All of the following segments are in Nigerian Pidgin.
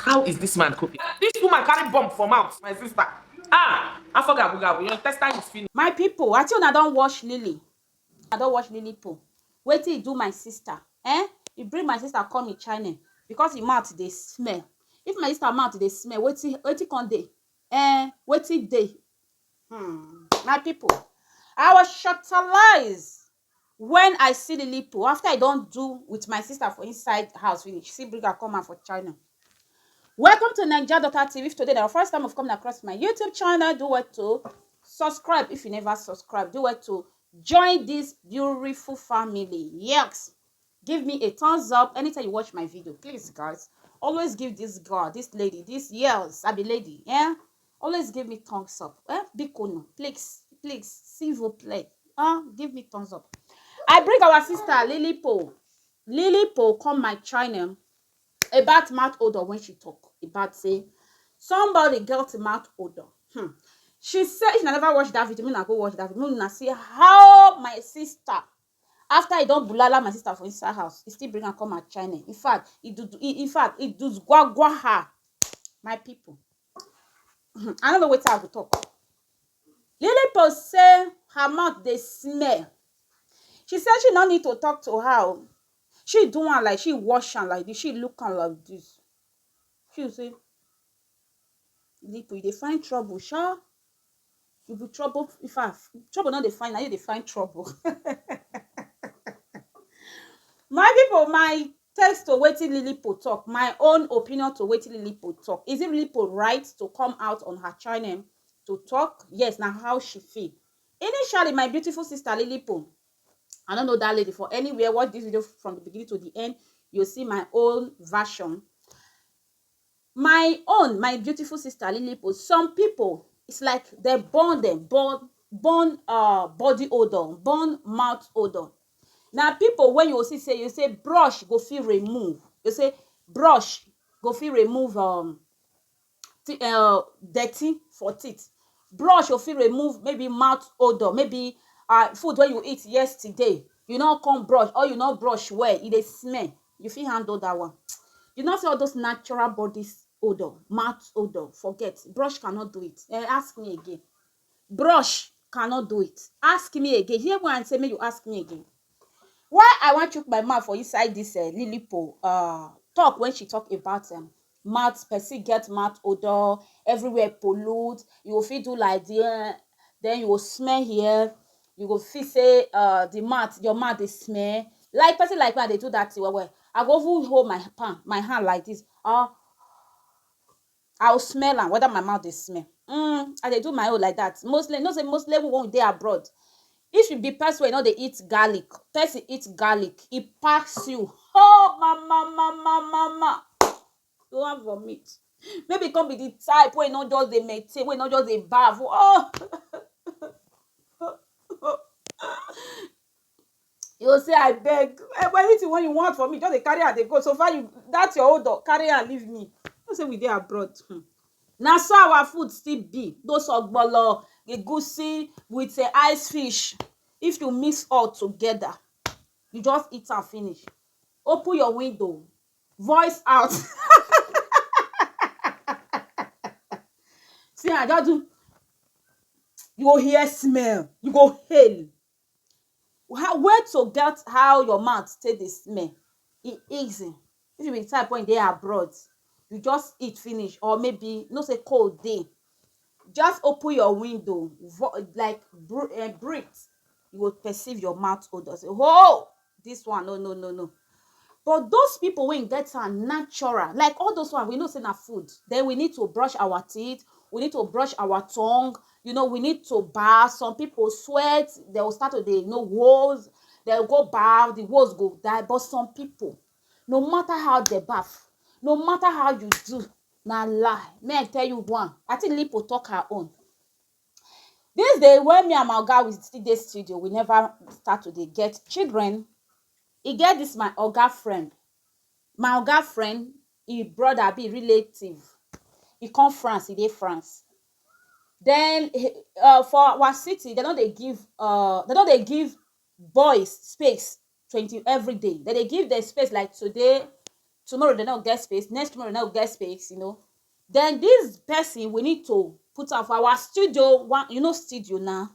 How is this man coping? This woman carry bomb for mouth, my sister. Ah, afọ gabu gabu, your intestine is finished. My people, I think una don watch Lily. I don watch Lily po. Wetin he do my sister? Eh? He bring my sister come in China because him mouth dey smell. If my sister mouth dey smell, wetin wetin come dey? Eh? Wetin dey? Hmm. My people, I was shortalized. Wen I see Lilito after I don do with my sister for inside house finish, still bring am come out for channel. Welcome to Naija Daughter TV. If today na your first time of coming across my YouTube channel, do well to subscribe if you never subscribe. Do well to join this beautiful family. Yes. Give me a thumbs up anytime you watch my video. Please, guys, always give this girl, this lady, this yes, I be lady, yeah, Always give me thumbs up. Eh? Bikonu, please, please, s'il vous plaît. Huh? Give me thumbs up. I bring our sister Lily Po. Lily Po come my channel about mouth odor when she talk about say somebody got mouth odor. Hmm. She said she never watch that video. Me na go watch that video. Me na see how my sister after he don bulala my sister for inside house, he still bring her come her channel. In fact, he do, he, in fact, he do gwagwa her. My people, um I no know wetin I go talk. Lily post say her mouth dey smell, she say she no need to talk to her oo, she do am like she wash am like dis, she look am like dis, she say Lipo you dey find trouble sha. You be trouble. In fact, trouble not dey find, now you dey find trouble. my people, my text to wetin Lilipo talk, my own opinion to wetin Lilipo talk. Is it Lilipo right to come out on her channel to talk? Yes, now how she feel. Initially, my beautiful sister Lilipo, I don't know that lady for anywhere. Watch this video from the beginning to the end. You'll see my own version. My own my beautiful sister lilipo some pipo is like dem born dem born born um body odor born mouth odor na pipo wey you go see say you say brush go fit remove dey say brush go fit remove um ti um dirty for teeth brush go fit remove maybe mouth odor maybe um food wey you eat yesterday you no come brush or you no brush well e dey smell You fit handle that one. You know say all those natural bodies odor, mouth odor, forget. Brush cannot do it. Eh, ask me again. Brush cannot do it. Ask me again. Hear when I say make you ask me again. Why I wan chook my mouth for inside this uh, Lilipo uh, talk when she talk about um, mouth person get mouth odor everywhere pollute you go fit do like the eh, then you go smell here you go feel say uh, the mouth your mouth dey smell like person like me i dey do that thing well well i go even hold my palm my hand like this ah i go smell am whether my mouth dey smell mm, i dey do my own like that mostly you know say mostly when we dey abroad If you be person wey no dey eat garlic, person eat garlic e pass you oh mama mama mama you wan vomit maybe you come be the type wey no just dey maintain wey no just dey baff oh you go say abeg anything wey you want for me just dey carry am dey go so far you that your own doh carry am leave me you know say we dey abroad. Na so our food still be those ogbono egusi with um ice fish if you mix all together you just eat am finish open your window voice out um see am just do you go hear smell you go hail How where to get how your mouth take dey smell e easy if you be the type wey dey abroad you just eat finish or maybe you know sey cold dey just open your window like breathe you go perceive your mouth odor sey hoo! this one no no no no but those people wey get am natural like all those one we know say na food then we need to brush our teeth we need to brush our tongue you know we need to bath some people sweat they will start to dey you know woes they will go bath the woes go die but some people no matter how they bath no matter how you do na lie may i tell you one i think lipo talk her own Dis days wey me and my oga we still dey studio we never start to dey get children e get dis my oga friend my oga friend e brother abi e relative e come France e dey France den for our city dem no dey give um dem no dey give boys space twenty everyday dem dey give dem space like today tomorrow dem no get space next tomorrow dem no get space you know then this person we need to put am for our studio one you know studio na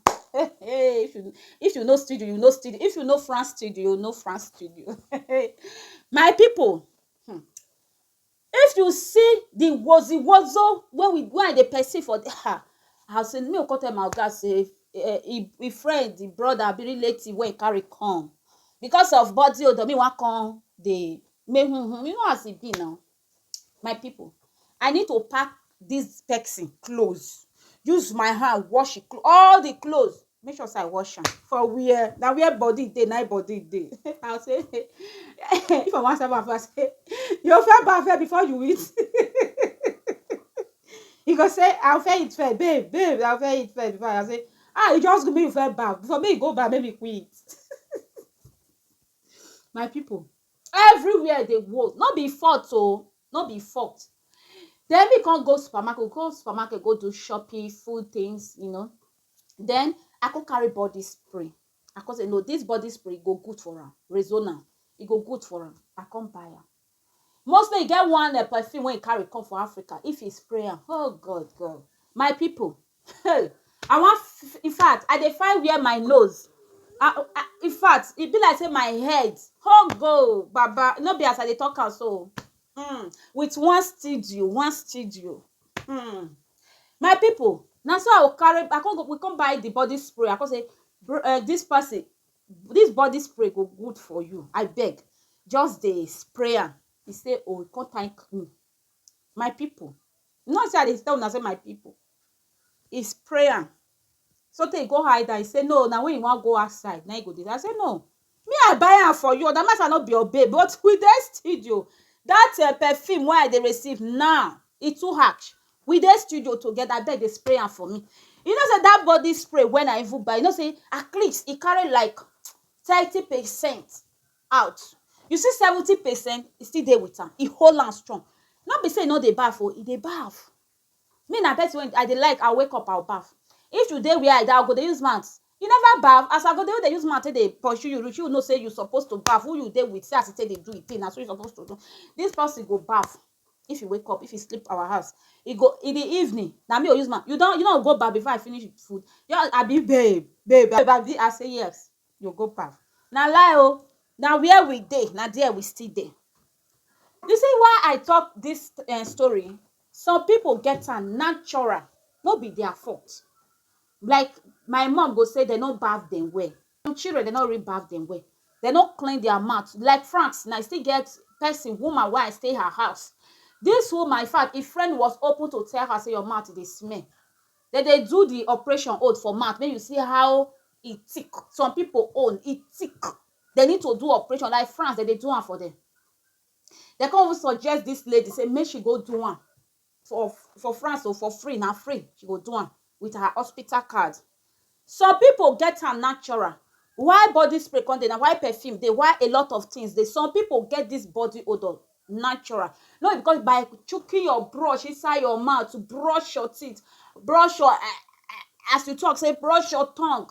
if you if you know studio you know studio if you know France studio you know France studio my people hmm. If you see the wozi wozo wey we wey I dey perceive for there ha I say make we come tell my oga say um him him friend him brother abi relative wey he carry come because of body odour me wan come dey make hum hum you know as e be na my people I need to pack this person clothes use my hand wash him clothes all the clothes make sure say i wash am for where na where body dey na body dey i say if i wan serve am i say you fẹ́ ba fẹ́ before you eat he go say i fẹ́ eat first babe babe i fẹ́ eat first before i say ah you just give me you fẹ́ ba before me go ba make me quick eat my people everywhere dey work no be fault o oh. no be fault then me come go supermarket go supermarket go do shopping food things you know Then I come carry body spray. I come say no, this body spray go good for am. Rexona, e go good for am. I come buy am. Mostly e get one uh, perfume wey e carry come for Africa. If e spray am, oh God, God, my people, hey, I wan. f- In fact, I dey find where my nose. I, I, in fact, e be like say my head, oh God, Baba, no be as I dey talk am so. Mm, with one studio, one studio. Mm. my people na so i carry i come go we come buy the body spray i come say bro um this person this body spray go good for you abeg just dey spray am he say oh he come thank me my people you know say i dey tell una say my people he spray am sotey he go hide am he say no na when he wan go outside na him he go dey i say no Me I buy am for you oda matter no be your babe but we dey studio that your perfume wey I dey receive now e too harsh we dey studio together abeg dey spray am for me you know say that body spray wey I even buy you know say at least e carry like thirty percent out you see seventy percent e still dey with am e hold am strong no be say e no dey baff oo e dey baff Me na person wey I dey like I wake up I will baff if you dey where I dey I go dey use mouth you never baff as I go dey use mouth take dey pursue you reach you know say you suppose to baff who you dey with see as e take dey do e thing na so you suppose to do this person go baff if e wake up if e sleep our house e go in the evening na me go use mouth you don you no go go baff before I finish food just abi babe babe abi I say yes you go go baff na lie oo na where we dey na there we still dey. You see why I talk dis um story, some people get am natural, no be their fault. Like my mum go say dem no bath dem well. Some children dem no really bath dem well. Dem no clean their mouth. Like France now, e still get pesin, woman wey I stay her house. Dis woman in fact, e friend was open to tell her sey your mouth dey smell. Dem dey do the operation hold for mouth make you see how e thick. Some pipu own, e thick. They need to do operation like France, they dey do am for them. They come even suggest this lady say make she go do am for for France or oh, for free, na free she go do am with her hospital card. Some people get am natural. Why body spray come dey na why perfume dey why a lot of things dey. Some people get this body odor natural. No because by choking your brush inside your mouth to brush your teeth, brush your eh, eh, as you talk say brush your tongue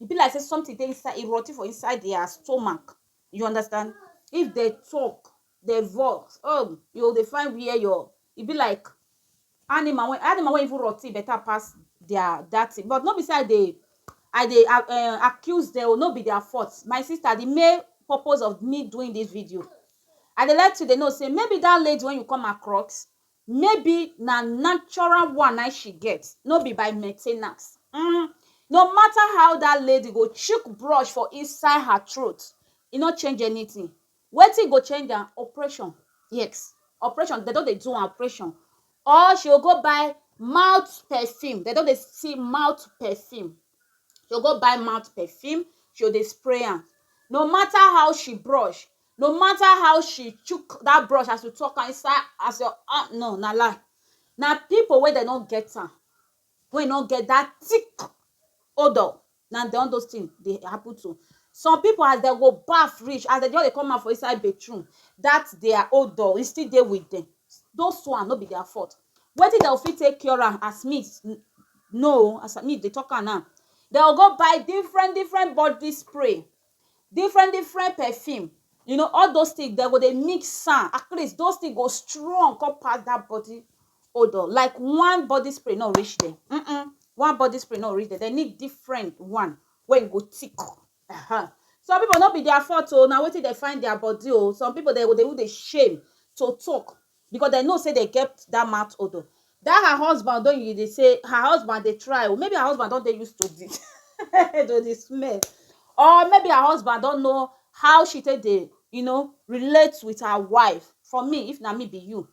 e be like say something dey inside e rot ten for inside their stomach you understand if dem talk dem vex oh you go dey find where your e be like animal wey animal wey even rot ten better pass their that thing but no be say I dey I dey um accuse dem oo no be their fault my sister the main purpose of me doing this video I dey like to dey know say maybe that lady wey you come across Maybe na natural one na im she get, no be by maintainance. um No matter how dat lady go chook brush for inside her throat, e no change anything. Wetin go change am? Operation. Yes, operation. Dem don dey do am operation. Or she go go buy mouth perfume. Dem don dey see mouth perfume. She go go buy mouth perfume, she go dey spray am. No matter how she brush, no matter how she chook that brush as you talk am inside as your ah no na lie na people wey dem no get am wey no get that thick odor na dem all those things dey happen to some people as dem go baff reach as dem just dey come out for inside bathroom that their odor e still dey with dem those one no be their fault wetin dem go fit take cure am as me know o as me dey talk am now dem go go buy different different body spray Different different perfume you know all those things dem go dey mix am at least those things go strong come pass that body odor like one body spray no reach them mm -mm. one body spray no reach them they need different one wey go thick uh -huh. some people no be their fault o oh, na wetin they find their body o oh. some people they go dey even dey shame to talk because dem know say dem get that mouth odour that her husband don you dey say her husband dey try o maybe her husband don dey used to the to the smell or maybe her husband don know how she take dey you know relate with her wife for me if na me be you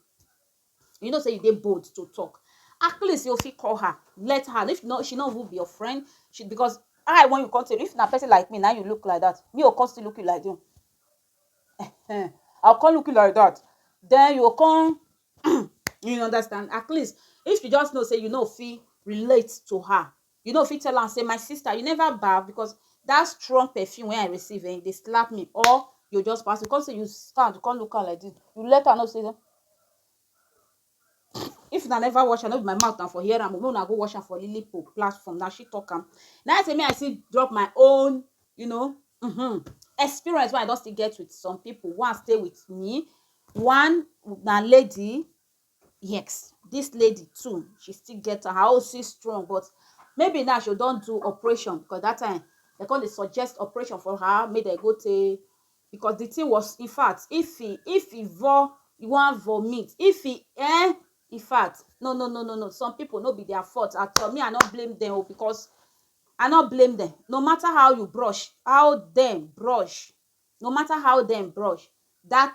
you know say you dey bold to talk at least you fit call her let her if no she no even be your friend she because eye wen you come take if na person like me na you look like that me o come still look you like that Ehen, I go come look you like dat, den you go come um you understand at least if you just know sey you no fit relate to her, you no fit tell am sey my sister you never baff because dat strong perfume wey I receive um e dey slap me or you go just pass, you go come sey you stand you come look am like dis, you let am know sey If una never watch am no be my mouth una for hear am o, make una go watch am for Lily Pope platform, na she talk am. Na im say me I still drop my own you know um experience wey I don still get with some people wey stay with me. One na lady, yes dis lady too she still get am, her own still strong but maybe now she don do operation because dat time dem come dey suggest operation for her make dem go take because the thing was in fact if he if he vo he wan vomit if he eh in fact no no no no no some people no be their fault at all me i no blame them o because i no blame them no matter how you brush how them brush no matter how them brush that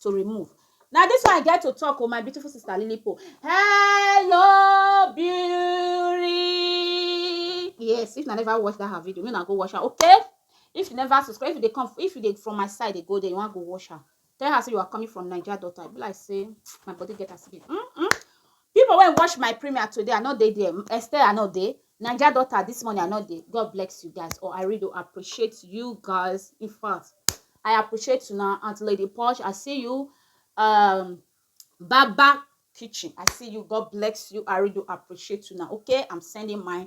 to remove na this one I get to talk o my beautiful sister Lilipo hello beauty yes if na never watch that her video make na go watch am okay if you never subscribe if you dey come if you dey from my side dey go there you wan go watch am tell her say you are coming from Naija daughter I be like say my body get as e be mm -mm. People wey watch my premier today I no dey there Esther I no dey Naija daughter this morning I no dey God bless you guys or I really do appreciate you guys in fact I appreciate you now Aunt Lady Posh I see you um Baba kitchen I see you God bless you I really do appreciate you now okay I'm sending my